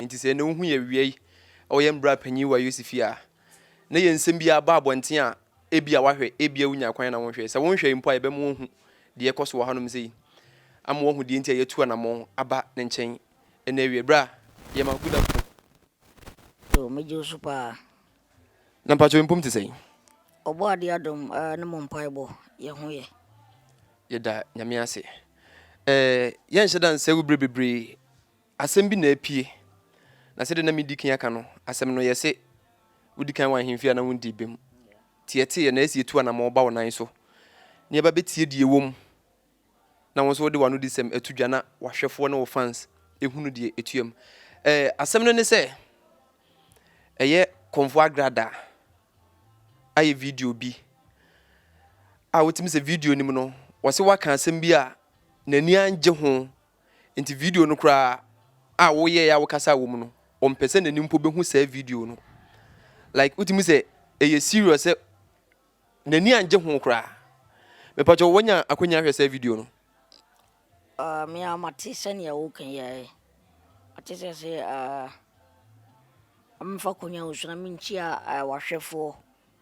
Enti sɛ na wohu yɛn wiei a wɔyɛ mmra panyin wɔ Yosef fie a, na yɛn nsɛm biara ba abɔnten a, ebia wɔahwɛ, ebia wonya kwan na wonhwɛe. Sɛ wonhwɛe mpo a, yɛbɛma wɔahu deɛ ɛkɔ so wɔ hanom sei, ama wɔahu deɛ enti a yɛatu anammɔn aba ne nkyɛn ɛnnɛ awiei, berɛ a yɛma Onyankopɔn. Yoo, megye wo so paa. Na mpakyɛw mpom te sɛn? Ɔbɔadeɛ adom aa ne mo mpaebɔ yɛ ho yɛ. Yɛda Nyame ase. Ɛɛ yɛnhyɛ da nsɛw berɛ bebree. Asɛm bi na apue. Na sɛdeɛ na medi kan aka no, asɛm no yɛse wodi kan wɔ ahemfie a na wondii bem. Nti yɛteeɛ na yɛse yɛtu anamɔn ba wo nan so na yɛba bɛtie deɛ ɛwɔ mu. na wo nso wode w'anodisɛm ato dwa na w'ahwɛfoɔ ne wo fans hunu deɛ ɛtuam. Eh, asɛm no ne sɛ ɛyɛ Kɔmfoɔ Agrada ayɛ video bi a wotumi sɛ video nim no wɔse waka asɛm bi a n'ani angye ho nti video no koraa a woyɛɛ a wokasa wɔ mu no ɔmpɛ sɛ n'ani mpo bɛhu saa video no like wotumi sɛ ɛyɛ serious sɛ N'ani angye ho koraa. Mepakyɛw wanya akwanya ahwɛ saa video no? Ah, me ara mate sɛnea woka yi ara yi. Mate sɛ sɛ ah, memfa konya nsu na menkyia ah, wahwɛfoɔ.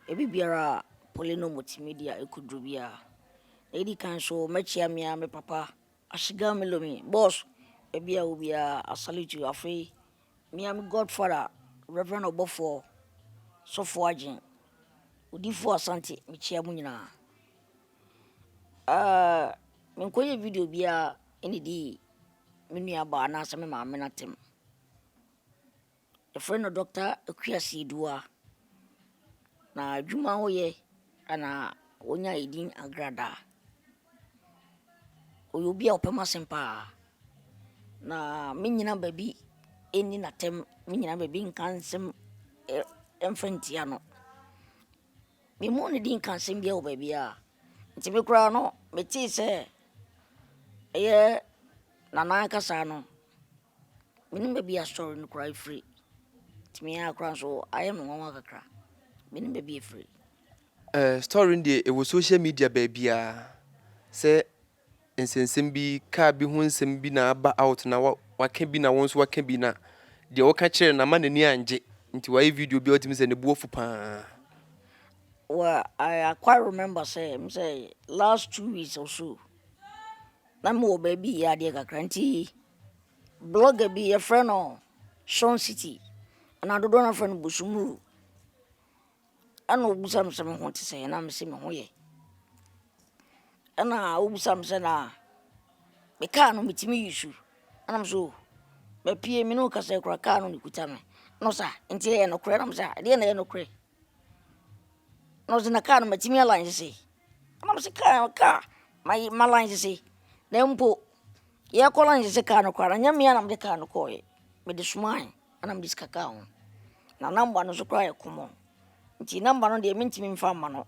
Ebi biara a Polino Multimedia ɛkɔduru biara. Na ɛdi kan so mɛkyia me ara me papa, Ashiga Melomi. Boss, baabi a wo biara, I salute you. Afei, Me a me godfather Reverend Ɔbɔfoɔ Sɔfo Agyen Odiyifoɔ Asante mekyia mo nyinaa uh, menkɔyɛ video biara ɛne di me nua baa anaasɛ me maame no atɛm yɛfrɛ no Dr. Akua Siedua na adwuma woyɛ ana wɔnya ɛdin agradaa ɔyɛ obi a ɔpɛ m'asɛm pa ara, na me nnyina baabi nni no atɛm, me nnyina baabi nnka nsɛm mmfa nntia no. Me mmɔɔ ne din nkaa asɛm biara wɔ baabi ara, nti me koraa no, me tee sɛ ɛyɛ Nana ankasa no, Menim baabi a asɔre no koraa firi, ɛtumi ara koraa nso ayɛ me nwanwa kakra, menim baabi a ɛfiri. Eh, story no deɛ ɛwɔ social media baabiara sɛ nsɛnsɛm bi, car bi ho nsɛm bi na aba out na waka bi na wo nso waka bi na deɛ woka kyerɛ no ama n'ani angye nti wayɛ video bi a wotumi sɛ ne bo afu paa. Well, I, I quite remember say, say last two weeks or so. Na mewɔ baabi yɛ adeɛ kakra nti blogger bi yɛfrɛ no Sean City anaa dodoɔ no afrɛ no Bosomuru ɛna ɔbisa me sɛ me ho te sɛ ɛna me sɛ me ho yɛ ɛna ɔbisa me sɛ na me kaa no metumi yi su ɛna me so oh, mapie me ne wo kasa kura kaa no ne kuta me na ɔsa nti ɛyɛ nokorɛ na me sɛ ɛdeɛ na ɛyɛ nokorɛ na ɔdze na kaa no matsim yɛ lunch dze, nna mese kaa no kaa maye ma lunch dze, na mpo yɛkɔ lunch dze kaa no koraa no nnyɛ me a na medze kaa no kɔɔe, medze somae na medze sika kaa ho. Na number no so koraa yɛ common, ntsi number no deɛ menntsim mmfa mma no,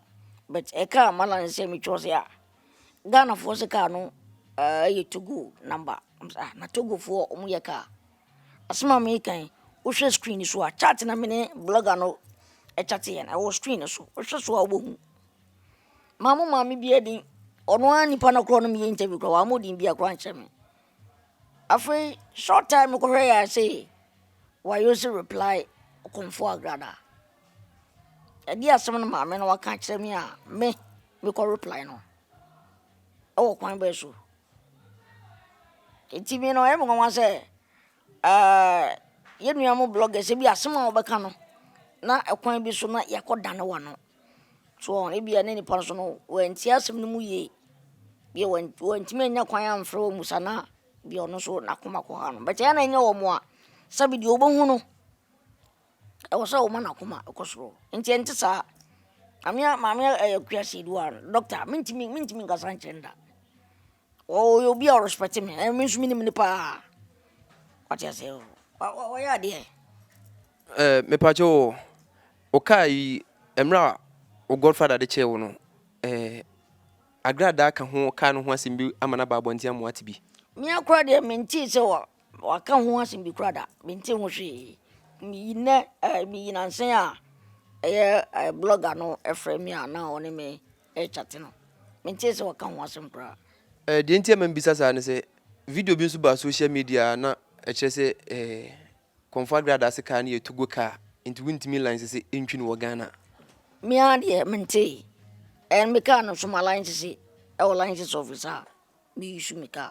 but ɛkaa ma lunch dze sɛ me cause a, Ghanafoɔ se kaa no ɛɛyɛ Togo number, na mese ah na Togofoɔ wɔyɛ kaa. Asɛm a meka yi, wohwɛ screen no so a, chat na me ne blogger no chatteeɛ no, ɛwɔ screen no so. Wohwɛ so a wobɛhu. Maa mo maame bi adin, ɔno ara nipa no korɔ no meyɛ interview korɔ, wamma odin bi akorɔ ankyɛ me. Afei short time mekɔhwɛ yɛ a sei, wayo se reply kɔmfo agrada. Ɛde asɛm no maame no waka akyerɛ me a, me mekɔ reply no. Ɛwɔ kwan bɛɛ so. Enti me no ɔyɛ me nwanwa sɛ yɛn nua mo bloggers ebi asɛm a wɔbɛka no na ɛkwan bi so na yɛakɔ dane wɔn ano. So ebi a ne nipa nso no wɔantie asɛm no mu yie. Ebi a wɔntumi annya kwan amfrɛ wɔn ammusa no a, ebi a ɔno nso n'akoma kɔ ha no. But ɛyɛ a na ɛnyɛ wɔn mmoa sɛbe deɛ wɔbɛhu no. Ɛwɔ sɛ woma n'akoma kɔ soro nti ɛnte saa maame maame akua seidu a dɔkta mentumi mentumi nkasa nkyerɛ no da ɔyɛ obi a ɔrespɛte me ɛna me nso menim no paa wate aseɛ ɔyɛ adeɛ ɛɛ mepakyɛ wɔ wokaa yi mmerɛ a wo godfather de kyerɛ wo no ɛɛ agradaa ka ho kaa no ho asɛm bi ama no aba abɔnten ama wate bi mea kora deɛ mentee sɛ Wɔaka ho asɛm bi koraa da, mentee ho hwee. Meyi nnɛ ɛɛ meyi nnansa yi a ɛyɛ ɛɛ blɔga no frɛɛ me a na ɔne me rekyate no, mentee sɛ wɔaka ho asɛm koraa. Ɛɛ deɛ nti a ɛma mebisa saa ne sɛ, video bi nso baa social media a na ɛkyerɛ sɛ ɛɛ Kɔmfo Aggrey Adaase kaa no yɛ Togo kaa, nti wontumi lansese ntwi no wɔ Ghana. Me ara deɛ mentee. Ɛɛ me kaa no nso malansese ɛwɔ license office a me use me kaa.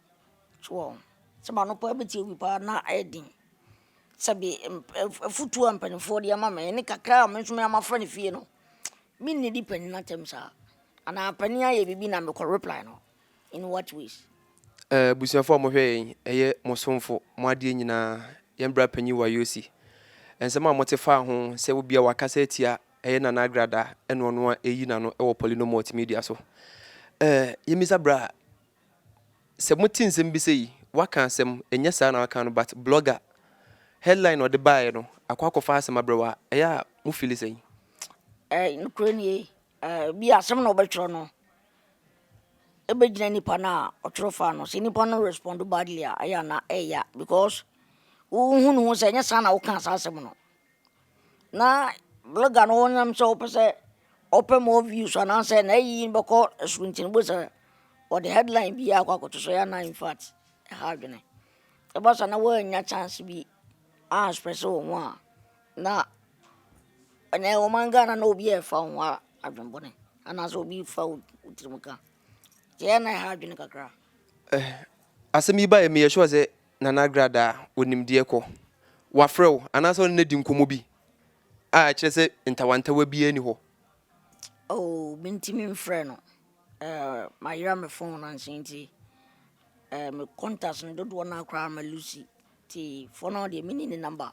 Abusuafoɔ a mo hwɛ yɛn yi, ɛyɛ mo somfo, mo adeɛ nyinaa, yɛn bra panyin Wayosi. Nsɛm a mo te faa ho sɛ wobia wakasa atia ɛyɛ Nana Agrada ɛna ɔno a ɛyi n'ano ɛwɔ Polynomot Media so. Ɛɛ yɛn bisa bra. Sɛ mote nsɛm bi sɛ yi waka asɛm, ɛnyɛ saa na waka no but blogger headline na ɔde baeɛ no akɔ akɔfa asɛm abrɛ wo a, ɛyɛ a mo feel sɛn? Ɛɛ nokorɛ nie, ɛɛ bi a asɛm na ɔbɛtwerɛ no ɛbɛgyina nipa no a ɔtwerɛ faa no, sɛ nipa no respond badly a ɛyɛ a na ɛyɛ ya because wohu ne ho sɛ ɛnyɛ saa na wokaa saa asɛm no. na blɔga no nam sɛ ɔpɛ sɛ ɔpɛ mɔ wius anaasɛ n'ayi bɛkɔ soro nti no bohu sɛ ɔde hɛdlaen biaa akɔ akɔto so, ɛyɛ a na infat ɛha adwene. Ɛba saa na woannya kyanse bi anspɛse wo ho a na ɛnɛ ɔman Ghana na obi a ɛfa wo ho adwene bɔne anaasɛ obi fa wo tirim ka nti ɛyɛ a na ɛha adwene kakra. Asɛm yi baeɛ meyɛ sure sɛ Nana Agrada a onim deɛ kɔ. Wafrɛ wo anaasɛ ɔne no adi nkɔmmɔ bi a ɛkyerɛ sɛ ntawantawa biara nni hɔ? Oh, mentumi mfrɛ no. Eh, mayera me phone no ansa nti, eh, me contacts no dodoɔ no ara koraa ma Lucy. Nti for now deɛ menni ne number.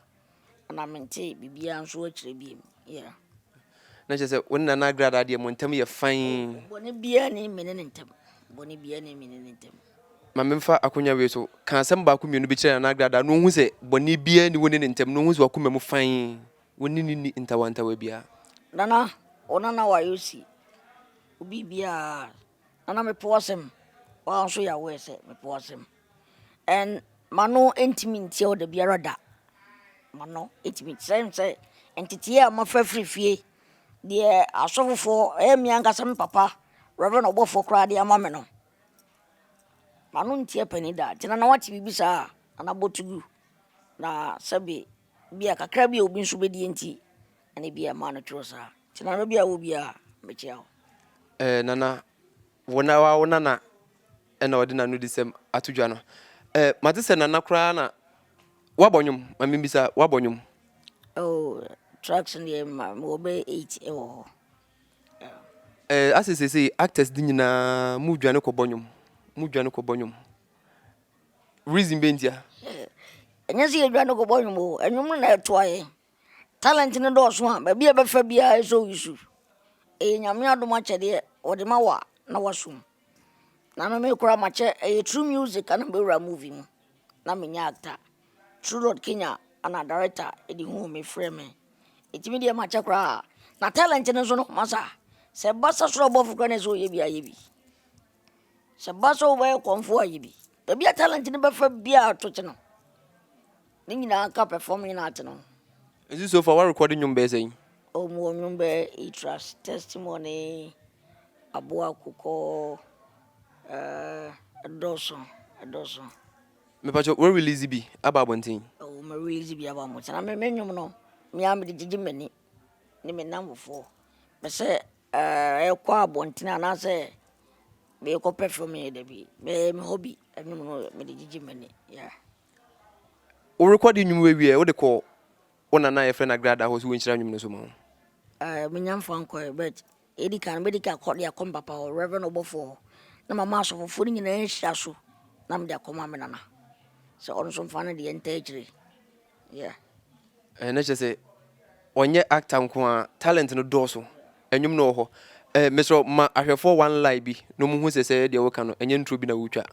Na mente biribiara nso akyire bio. Yeah. Na kyerɛ sɛ wo ne Nana Agradaa deɛ mo ntam yɛ fann. Bɔne biara ni me ne ne ntam. Bɔne biara ni me ne ne ntam. Ma memfa akonnwa wei so ka asɛm baako mmienu bi kyerɛ Nana Agradaa na ɔhu sɛ bɔne biara ni wo ne ne ntam na ɔhu sɛ wakoma mu fann. Wo ne ne nni ntawantawa biara. Nana, wo nana wayɛ osi. Obi biara. Nana mepo asɛm. Wɔn nso yɛ aware sɛ mepo asɛm. M'ano ntumi ntie wo da biara da, m'ano ntumi ntie wo da biara da. Ntetee a mofa firi fie, deɛ asɔfofoɔ, ɛyɛ me ankasa me papa reverend ɔbɔfoɔ koraa de ama me no, m'ano ntie panin da. Nti nana woate biribi saa a, nana bɔ to you na sɛbe bi a kakra bi a obi nso bɛdie nti ɛna bi a ɛma no twerɛ saa. Nti nana baabi a wowɔ biara mɛkyia wo. Nana Wo na wa wo nana ɛna ɔde nanu di sɛm ato dwa no ɛ mate sɛ nana koraa na wabɔ nwom ma membisa wabɔ nwom oh tracks no yɛ ma wɔ bɛ 8 ɛwɔ hɔ ɛ asɛ sese actors di nyinaa mu dwane kɔbɔ nwom mu dwane kɔbɔ nwom reason bɛ ntia ɛnyɛ sɛ yɛdwane kɔbɔ nwom o ɛnwom no na ɛtoa yɛ Talent no dɔɔso a, baabi a ɛbɛfa biara ɛsɔ wo su. Ɛyɛ Nyame adom akyɛdeɛ ɔde ma wo a na wasom. Na me me koraa makyɛ ɛyɛ through music ana mɛwura movie mu na menyɛ actor. True Lord Kenya ana director ɛde huu me frɛɛ me. Ɛti me deɛ makyɛ koraa. Na talent no nso no masa. Sɛ ɛba sasorɔ abɔfo koraa na ɛsɛ ɔyɛ bi a yɛ bi. Sɛ ɛba sɛ wobɛyɛ kɔmfo a, yɛ bi. Baabi a talent no bɛfa biara to kye no. Ne nyinaa ka performing art no ho. Nti so far woarekɔde nnwom bɛyɛ sɛn? Oh, mewɔ nnwom bɛyɛ Itras, Testimony, Aboa Akokɔ, eh, ɛdɔɔso, ɛdɔɔso. Mepakyɛ wo release bi aba abɔnten? Oh, me release bi aba abɔnten. Na me me nnwom no, me ara mede gyegye m'ani ne me nnamfofoɔ. Pɛ sɛ Ɛrekɔ abɔntene anaasɛ merekɔ perfume yɛ dabi bɛyɛ me hobby ɛnum no mede gyegye m'ani yeah. Wo rekɔde nnwom wieɛ wode kɔ wo nana a yɛfrɛ no agrada hɔ sɛ wɔnhyira nnwom no so ma wo? Uh, menya mfa nkɔɛ but ɛdi kan mɛdi ka kɔ de akɔ mpapa hɔ reverend ɔbɔfoɔ hɔ na mama asɔfofoɔ no nyinaa nhyira so na mede akɔma me nana sɛ ɔno nso mfa no deɛ ntaa akyire Yeah. Eh, na kyerɛ sɛ ɔnyɛ actor nko a talent no dɔɔso ɛnwom no wɔ hɔ eh, mesrɛ ma ahwɛfoɔ one lie bi na ɔmo hu sɛ sɛ deɛ woka no ɛnyɛ nturo bi na wotwa.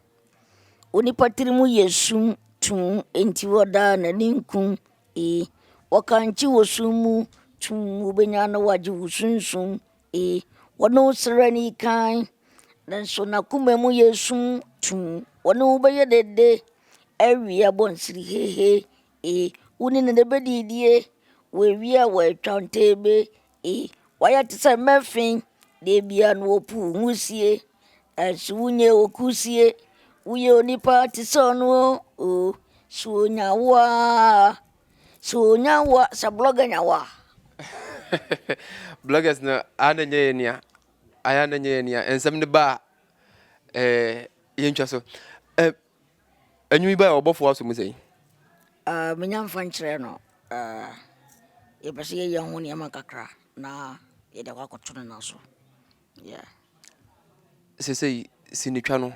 Onipa tirimu yɛ sum tuu enti wɔdaa n'ani nkum ee wɔkankye wɔ sum mu tuu wobɛnya na wagye wo sunsum Ee, wɔne wo srɛ no yi kann, nanso n'akoma mu yɛ sum tumm. Wɔne wo bɛyɛ dede awie abɔnsere hehe. Ee, wo ne no na ɛbɛdidie wɔ awie a wɔatwa ntɛbɛ. Ee, wɔayɛ te sɛ mmɛfe, deɛ biara no wɔ po nwusie, nanso wo nyɛ wɔ kusie. Woyɛ onipa te sɛ ɔno oo, sɛ ɔnya wo a. Sɛ onya wo a, sɛ blogger nya wo a. Bloggers no a na nyɛ yɛ nea, ayɛ a na nyɛ yɛ nea, nsɛm no ba a, ɛɛ yɛntwa so. Ɛ anwumi ba a ɔbɔfo aso mu sɛn? Uh, menya mfa nkyerɛ no uh, yɛpɛ sɛ yɛyɛ ho nneɛma kakra na yɛde akɔ akɔto no no so Yeah. Sesei sinitwa no,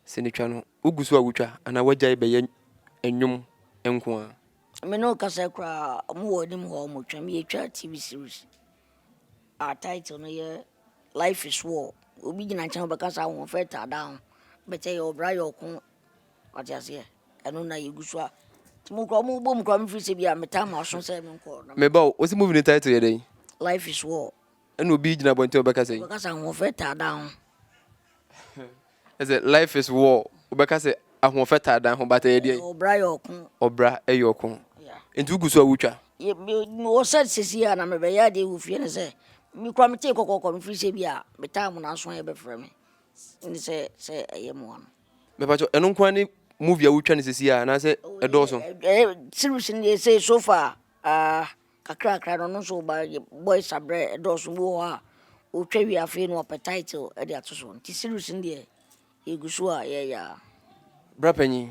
sinitwa no, wogu so a wotwa anaa woagyae bɛyɛ nnwom nko ara? Me ne wo kasa yi koraa, wɔn wɔ anim hɔ a wɔtwa. Yɛtwa TV series a title no yɛ Life is War. Obi gyina nkyɛn ɔbɛka sɛ ahoɔfɛ taa da ho, but ɛyɛ ɔbra yɛ ɔko. Wate aseɛ? Ɛno na yɛgu so a. Nti mo koraa mobɔ mu koraa mefiri sɛ bi a me time aso sɛ menkɔ. Meba o, wo se movie no title yɛ dɛn? Life is War. Ɛna obi gyina abɔnten ɔbɛka sɛ. Ɔbɛka sɛ ahoɔfɛ taa dan ho. Ɛsɛ life is war ɔbɛka sɛ ahoɔfɛ taa dan ho but ɛyɛ deɛ. Ɔbra yɛ ɔko. Ɔbra ɛyɛ ɔko. Nti wogu so a wotwa. Mewɔ sɛ sisi a na mebɛyɛ adeɛ wɔ fie no sɛ me kura metee kɔkɔkɔ mefiri sɛ bi a metaa mo n'aso ayɛ bɛfrɛ me ne sɛ sɛ ɛyɛ mmoa no. Mɛpatwɔ ɛno nko ne movie a wotwa no sisi a anaasɛ ɛdɔɔso. Series no deɛ sɛ so far ah. kakrakra no ɔno nso ɔba yɛ boys abrɛ ɛdɔɔso ebi wɔ hɔ a otwa wie afei na ɔpɛ title ɛde ato so nti series no deɛ yɛgu so a yɛyɛ a. Bra panyin,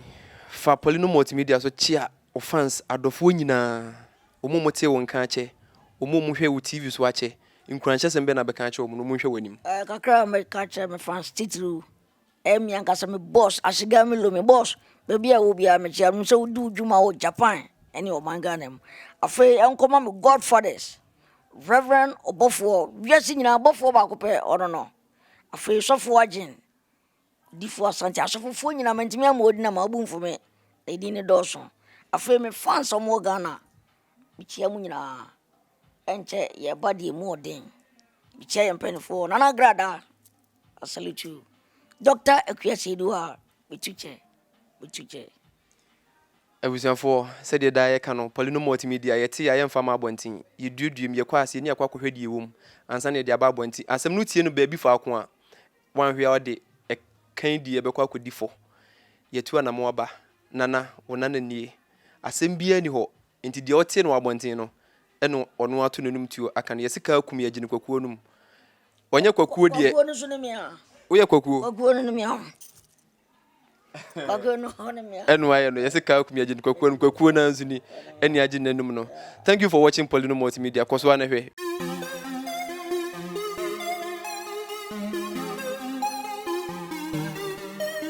fa Paulino Multimedia so kyea wo fans adɔfoɔ nyinaa, wɔn a wɔtee wo nka akyɛ, wɔn a wɔhwɛɛ wo TV so akyɛ, nkuranhyɛsɛm bɛn na bɛka akyerɛ wɔn na wɔnhwɛ w'anim? Ɛɛ kakra a mɛka akyerɛ me fans titiriw Ɛyɛ me ankasa me boss, Ashigami Lo, me boss. Baabi a ɛwɔ biara mekyia no, menim sɛ wodi wo dwuma wɔ Japan ne ɔman Ghana mu. Afei ɛnkɔma me godfathers, Reverend ɔbɔfoɔ, wiase nyinaa bɔfoɔ baako pɛ, ɔno no. Afei sɔfoɔ Agyen, odifoɔ Asante, asɔfofoɔ nyinaa mantumi ammɔ wɔn din ama wɔbu mfo me, na edin no dɔɔso. Afei me fans a wɔwɔ Ghana, mekyia mo nyinaa. Ɛnkyɛ yɛreba deɛ mu ɔden. Mekyia yɛn mpanimfoɔ, Nana Gradaa. I salute you Doctor Akua Seidu a metu kyɛ, metu kyɛ. Abusuafoɔ, sɛdeɛ daa yɛka no, Paulino Malt Media, yɛte yɛ a yɛmfa mma abɔnten. Yɛduaduam, yɛkɔ ase, yɛni akɔ akɔhwɛ deɛ ɛwɔ mu, ansa na yɛde aba abɔnten. Asɛm no tie no baabi faako a, woanhwɛ a ɔde, ɛkan die ɛbɛkɔ akɔdi fɔ. Yɛatu anamɔn aba. Nana, wo nana nie. Asɛm biara nni hɔ, Enti deɛ ɔteɛ no wɔ abɔnten no, ɛna ɔno ato n'anom tuo aka no, Yɛse kaa kum yɛn, gye no kwakuo no mu. Ɔnyɛ kwakuo deɛ. Kwakuo no nso ne me a. Woyɛ kwakuo? Kwakuo no ne me a. Kwakuo no nso ne me a. Ɛno ayɛ no, yɛse kaa kum yɛn, gye no kwakuo no mu. Kwakuo no ara nso ni, ɛne agye no n'anom no. Thank you for watching Polino Multimedia, kɔ so ara na hwɛ.